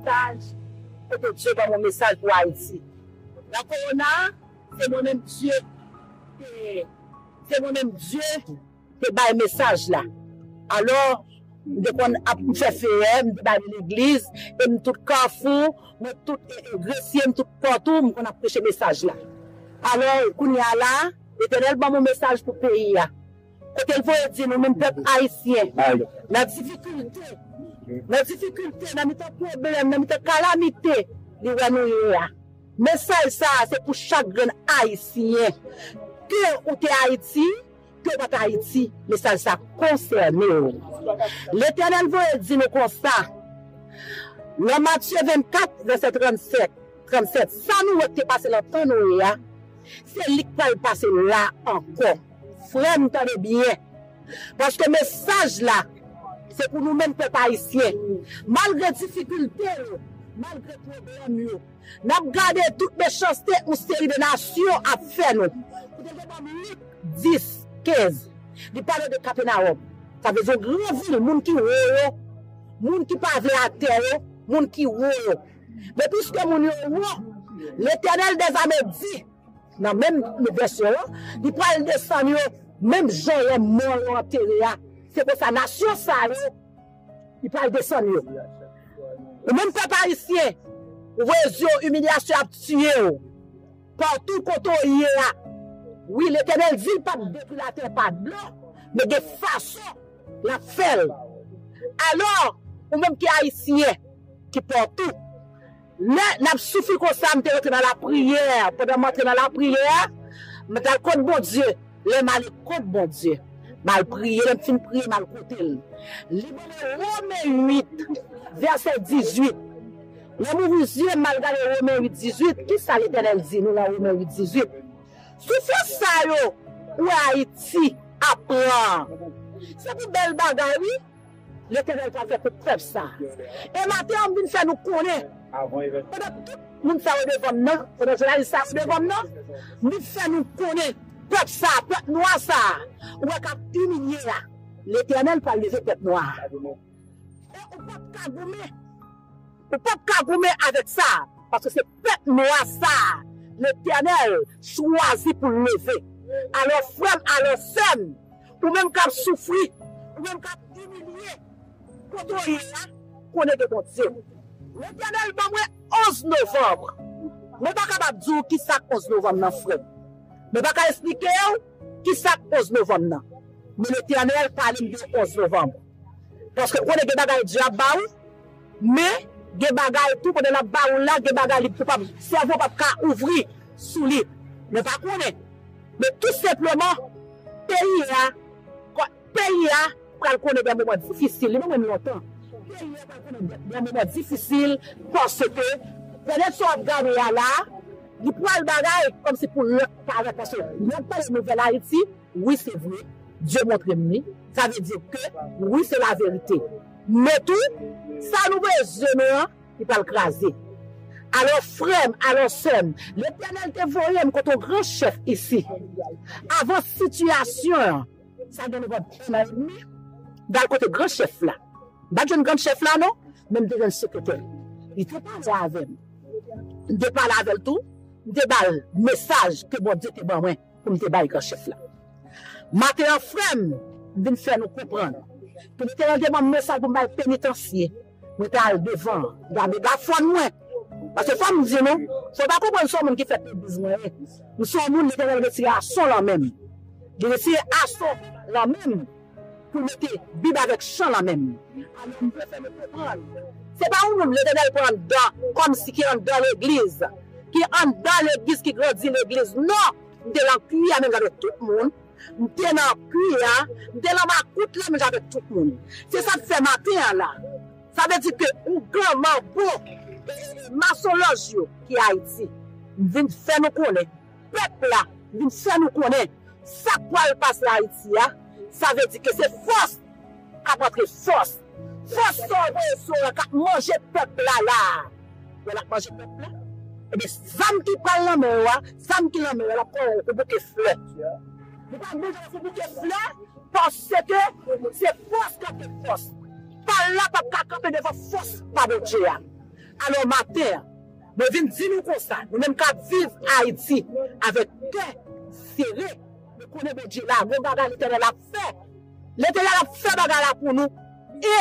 Saj, kote Dye banm yon mesaj pou Ayiti. Nan korona a, se mwen menm Dye te, se mwen menm Dye te bay mesaj la. Alò, m te konn ap, m fè feyè, m te bale legliz, e m tout kafou, mwen tout gresye, m tout pòtou, m konn ap preche mesaj la. Alò, kounye a la, Letènèl banm yon mesaj pou peyi a. Kote l voye di nou menm pèp ayisyen nan difikilte, nan difikilte, nan mitan pwoblèm, nan mitan kalamite li wè nou ye a. Mesaj sa a se pou chak grenn ayisyen. Ke ou te Ayiti, ke ou pa t Ayiti, mesaj sa konsène w. Letènèl voye di nou konsa nan Matye 24 vèsè 37, 37, sa nou wè k te pase nan tan Noye a, se li k pral pase la ankò. Frèm tande byen, paske mesaj la se pou nou menm pèp ayisyen, malgre difikilte yo, malgre pwoblèm yo, nap gade tout mechanste yon seri de nasyon ap fè nou. Ou te gen banm Lik 10, 15, li pale de Kapenawòm, sa vle di yon gran vil, moun ki wo yo, moun ki pa vle atè yo, moun ki wo yo. Men piske moun yo wo, Letènèl dèzame di. Nan menm vèsyon an, li pral desann yo menm jan lè mò yo antere a. Se konsa, nasyon sa yo, li pral desann yo. Ou menm pèp ayisyen, ou voye zye w, imilyasyon an ap tiye w patou kote w ye a. Wi, Letènèl di l p ap detwi latè pa dlo, men gen fason l ap fè l. Alò, ou menm ki ayisyen, ki patou. Lè n ap soufri konsa, m te rantre nan lapriyè. Pandan m antre nan lapriyè, m t al kot Bondye. Lè m ale kot Bondye, m al priye. Lè m fin priye, m al kote l. Li ban mwen Women 8, vèsè 18. Lè m ouvri zye m, m al gade Women 8, 18. Ki sa Letènèl di nou nan Women 8, 18? Soufrans sa yo ou wè Ayiti ap pran an, se pou bèl bagay wi. Letènèl pral fè pou pèp sa. E maten an m vin fè nou konnen, pandan tout moun sa yo devan m nan, pandan jounalis sa yo devan m nan, m vin fè nou konnen, pèp sa, pèp nwa sa ou wè k ap imilye a, Letènèl pral leve pèp nwa a. E ou pap ka goumen. Ou pap ka goumen avèk sa, paske se pèp nwa sa a Letènèl chwazi pou l leve. Alò, frè m, alò, sè m, ou menm k ap soufri, ou menm k ap imilye, kote w ye a, konnen gen Bondye. Letènèl ban mwen 11 novanm. Mwen pa kapab di w ki sa k 11 novanm nan, frè m. Mwen pa ka esplike w ki sa k 11 novanm nan. Men Letènèl pale m de 11 novanm. Paske ou konnen gen bagay dyab ba ou. Men, gen bagay tou pandan lap ba ou la gen bagay li pap sèvo pap ka ouvri sou li. Mwen pa konnen. Men tou senpleman peyi a peyi a pral konnen dè moman difisil. Li menm lontan. Peyi a pral konnen dè moman difisil paske pènèt sa wap gade a la li pral bagay kòmsi pou lòt parèt paske lè wap gade nouvèl Ayiti. Wi se vre, Dye montre m li, sa vle di ke wi se laverite. Men tou, sa nou voye sou zye nou an, li pral kraze. Alò frè m, alò sè m, Letènèl te voye m kot yon gran chèf isi. Avan sitiyasyon an, sa gen anviwon 1 an edmi, m t al kote gran chèf la. M pa t jwenn gran chèf la non, men m te jwenn sekretè l. Li te pale avè m. M te pale avè l tou, m te ba l mesaj ke Bondye te ban mwen. pou m te bay gran chèf la. Maten an frè m vin fè nou konprann pou li te mande ban m mesaj pou m bay penitansye, mwen te al devan an gade gafòn mwen. Paske fò m di nou, si w pa konprann se yon moun ki fèt legliz mwen ye, m se yon moun li te rèl retire ason lan men m. Li retire ason lan men m. Pou mete bib avek chan la menm. Alon m pran sa nou konprann. Se pa yon moun Letènèl pran anndan kòm si ki anndan legliz, ki anndan legliz ki grandi legliz non, m te lan pui a menm jan avèk tout moun, m te nan pui a, m te lan makout la menm jan avèk tout moun. Se sa m fè maten an la. Sa vle di ke ougan, manbo, e masonlòj yo ki Ayiti. M vin fè nou konnen. Pèp la vin fè nou konnen sa k pral pase Ayiti a, sa vle di ke se fòs k ap antre fòs. Fòs sa w voye sou an k ap manje pèp la la a, wè l ap manje pèp la, ebyen zam ki pral nan men yo a, zam ki nan men yo a l ap pran w pou bouke flè. Li pral manje w pou bouke flè paske se fòs k antre fòs. Pal la p ap ka kanpe devan fòs pa Bondye a. Alò maten an. Mwen vin di nou konsa, nou menm kap viv Ayiti avèk kè sere, nou konnen Bondye la, gon bagay Letènèl ap fè. Letènèl ap fè bagay la pou nou e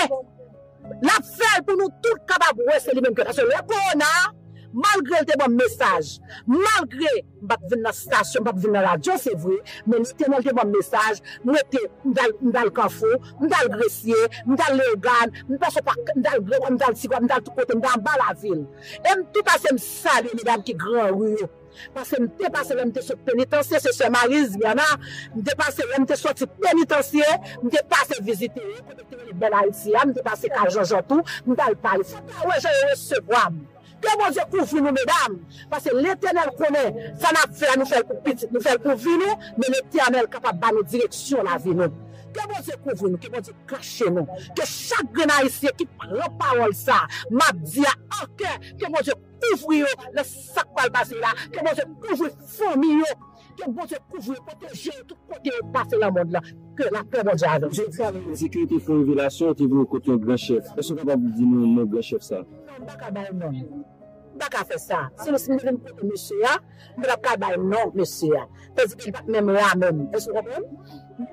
lap fèl pou nou tout kapab wè se li menm ki fè sa. Paske lè kowona a, malgre l te banm mesaj, malgre. M pa t vin nan stasyon, m pa t vin nan radyo se vre, men li te nan demann mesaj, mwen te, m t al, m t al Kanfou, m t al Gresye, m t al Leyogàn, m pase pa, m t al Grangwa, m t al Ti Gwav, m t al tout kote, m t al anba lavil. E m tou pase m salye medam ki gran ri yo. Pase m te pase lè m te sot penitansye, se sè Marie Zviana, m te pase lè m te soti penitansye, m te pase vizite yo, kote ki rele Bèl Ayiti a, m te pase kay Janjan tou, m t al pale. Sa ta wè jan yo resevwa m. Ke Bondye kouvri nou medam, pase Letènèl konnen sa nap fè a nou fèl pou pitit nou fèl pou vi nou, men Letènèl kapab ba nou direksyon lavi nou. Ke Bondye kouvri nou, ke Bondye kache nou, ke chak grenn ayisyen ki pran pawòl sa map di a an kè ke Bondye kouvri yo nan sak pral pase la, ke Bondye kouvri fanmi yo. Ke Bondye kouvri e pwoteje ou tout kote ou pase lan mond lan. Ke la pè Bondye avèw. Jodi sa nan Ensekirite fon revelasyon te vini kot yon gran chèf. Èske ou kapab di nou non gran chèf sa? Non, m pa ka bay non l. M pa ka fè sa. Si m te vin kote mesye a, m patap ka bay non mesye a. Tandis ke li pat menm la menm. Èske ou konprann?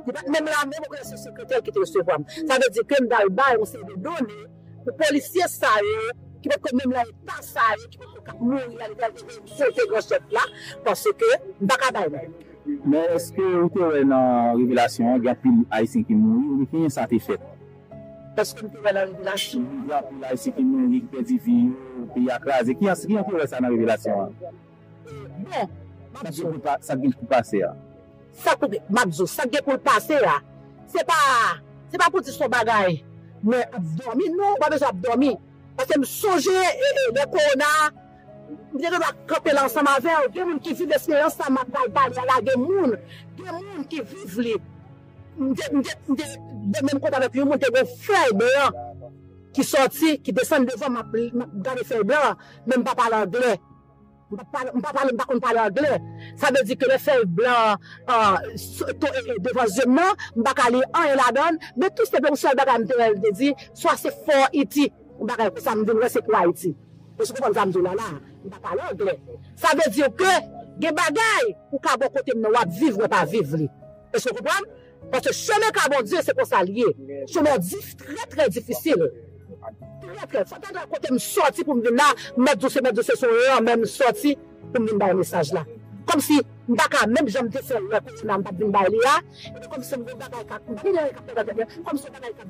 Li pat menm la menm, ou konnen se sekretè l ki te resevwa m. Sa vle di ke m pral bay yon seri de done. Pou polisye sa yo ki potko menm lan eta sa yo ki potko kap mouri a li pral te vin sote gran chèf la paske m paka bay non. Men eske ou te wè nan revelasyon an gen anpil ayisyen ki mouri oubyen kijan sa te fèt? Eske m te wè nan revelasyon an. Gen anpil ayisyen ki mouri ki pèdi vi yo, peyi a kraze kijan kijan ou te wè sa nan revelasyon an? Bon, m ap di w. Sa k gen pou l pase a. Sa k gen, m ap di w, sa k gen pou l pase a, se pa, se pa pou di s on bagay mwen ap dòmi. Non, m pa bezwen ap dòmi. Paske m sonje lè kowona a, m te gendwa kanpe la ansanm avè w. Gen moun ki viv esperyans sa m ap pral pale a la. Gen moun, gen moun ki viv li. M te, m te, m te de menm kote avèk yon moun, te gen yon fèy blan ki sòti, ki desann devan m, m ap gade fèy blan an, men m pa pale angle. M pa pale, m pa konn pale angle. Sa vle di ke lè fèy blan an tonbe devan zye m nan, m pa ka li anyen ladan l. Men tou senpleman yon sèl bagay m te wè li te di, swa se For Iti, yon bagay konsa m vin wè se pou Ayiti. Èske w konprann sa m di w la la a? M pa pale angle. Sa vle di ke gen bagay ou ka bò kote m nan w ap viv mwen pa viv li. Èske w konprann? Paske chemen ka Bondye se konsa li ye. Chemen dif trè trè difisil. Trè trè. Fò tande kote m sòti pou m vin la, mèt di w se mèt di w se son lanmè m sòti pou m vin bay mesaj la. Kòmsi m pa ka menm jan m te fè lè kòsina m t ap vin bay li a, epi kòmsi m gon bagay k ap m pa vin gen anyen k ap fèt nan tèt mwen, kòmsi yon bagay k ap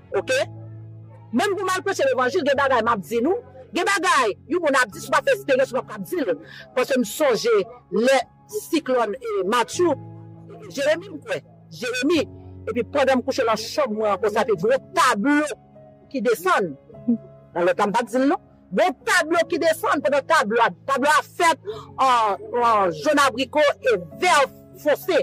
Ok Menm pou mal preche levanjil gen bagay map di nou gen bagay yon moun ap di sou pa fè esperyans ou pap kap dil paske m sonje lè siklòn Matthew Jeremie m kwè Jeremie epi pandan m kouche nan chanm mwen ankò sa te gwo tablo ki desann nan lòt la m pat dil non Gon tablo ki desann pandan tablo a tablo a fèt an jòn abriko e vè fonse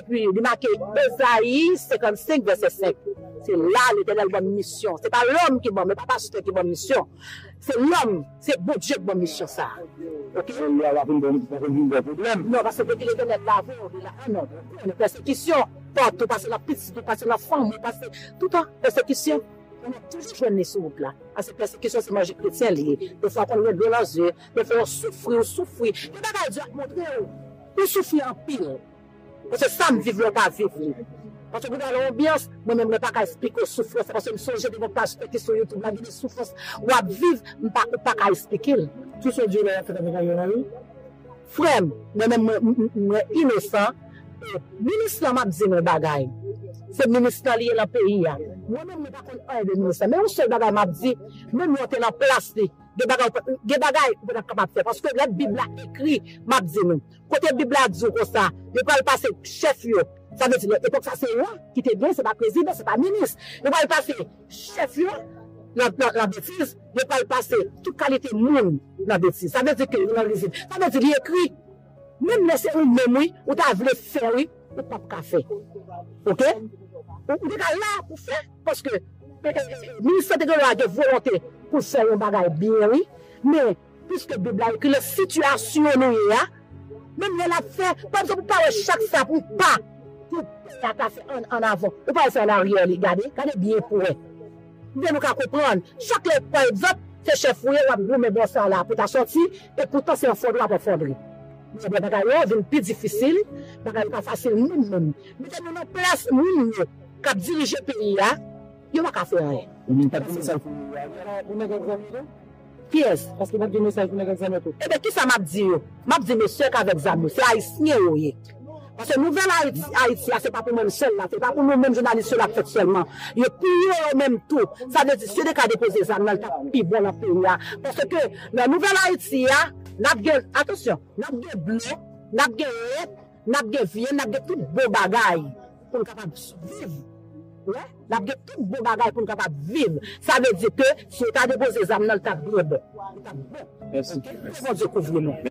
epi li make Ezayi 55 vèsè 5 se la Letènèl ban m misyon se pa lòm ki ban m e pa pastè ki ban m misyon se lòm se Bondye ki ban m misyon sa a ok Sè li a va vin ban m poko vin gen pwoblèm. Non paske depi Letènèl la avè w li la anò pèsekisyon patou pase nan pitit ou pase nan fanmi pase toutan pèsekisyon. Mwen mèt toujou jwenn li sou wout la. Paske pèsekisyon se manje kretyen li ye. Defwa w konn gen dlo nan zye, defwa w soufri, w soufri. Gen bagay Dye ap montre w pou w soufri anpil. Mwen se sa m viv lè w pa viv li. Paske gen nan yon anbyans, mwen menm mwen pa ka esplike w soufrans la. Paske m sonje gen yon paj fete sou YouTube la, gen de soufrans w ap viv, ou pa ka esplike l. Sou se Dye lè y ap fè t ap gen yon nan yo. Frèm, mwen menm mwen inosan e minis lan map di nou yon bagay, se minis lan li ye nan peyi a, mwen menm mwen pa konn anyen de minis lan men yon sèl bagay map di, menm lè w te nan plas li gen bagay gen bagay ou patap kapab fè paske lè bib la ekri map di nou kote bib la di w konsa yo pral pase chèf yo sa vle di nan epòk sa se wa ki te gen se pa prezidan se pa minis yo pral pase Chèf yo nan labetiz, yo pral pase tout kalite moun nan betiz. Sa vle di ke yo nan rizib. Sa vle di li ekri. Menm lè se ou menm wi, ou ta vle fè wi, ou pap ka fè. Ok? Ou te ka la pou fè paske Minis Sante Delò a gen volonte pou l fè yon bagay byen wi. Men. Piske bib la ekri nan sitiyasyon nou ye a menm lè lap fè pa egzanp ou pa wè chak sa pou pa pou pè a ta fè an an avan ou pa wè se an aryè li gade gade byen pou wè oubyen nou ka konprann chak lè pa egzanp se chèf ou ye wap goumen bò sa la pou ta sòti e poutan se an fondri wap an fondri men lè bagay yo vin pi difisil bagay yo pa fasil menm menm mete nou nan plas moun yo kap dirije peyi a yo paka fè anyen. Ou menm pap gen mesaj pou Ariel la pou nèg an granmoun an? Kiyès? Paske nap gen mesaj pou nèg ak zam yo tou. Ebyen kisa map di yo? Map di mesye k avèk zam yo se ayisyen yo ye. Paske nouvèl Ayiti a se pa pou mwenm sèl la, se pa pou nou menm jounalis yo lap fèt sèlman. Yo pou yo yo menm tou. Sa vle di si li ka depoze zam nan li tap pi bon nan peyi a. Paske nan nouvèl Ayiti a nap gen, atansyon, nap gen blo, nap gen lèt, N ap gen vyann, n ap gen tout bon bagay pou n kapab siviv. Wè, n ap gen tout bon bagay pou n kapab viv. Sa vle di ke si yo ta depoze zam nan, li t ap byen bon. Li t ap bon. Mèsi. Ke Bondye kouvri nou.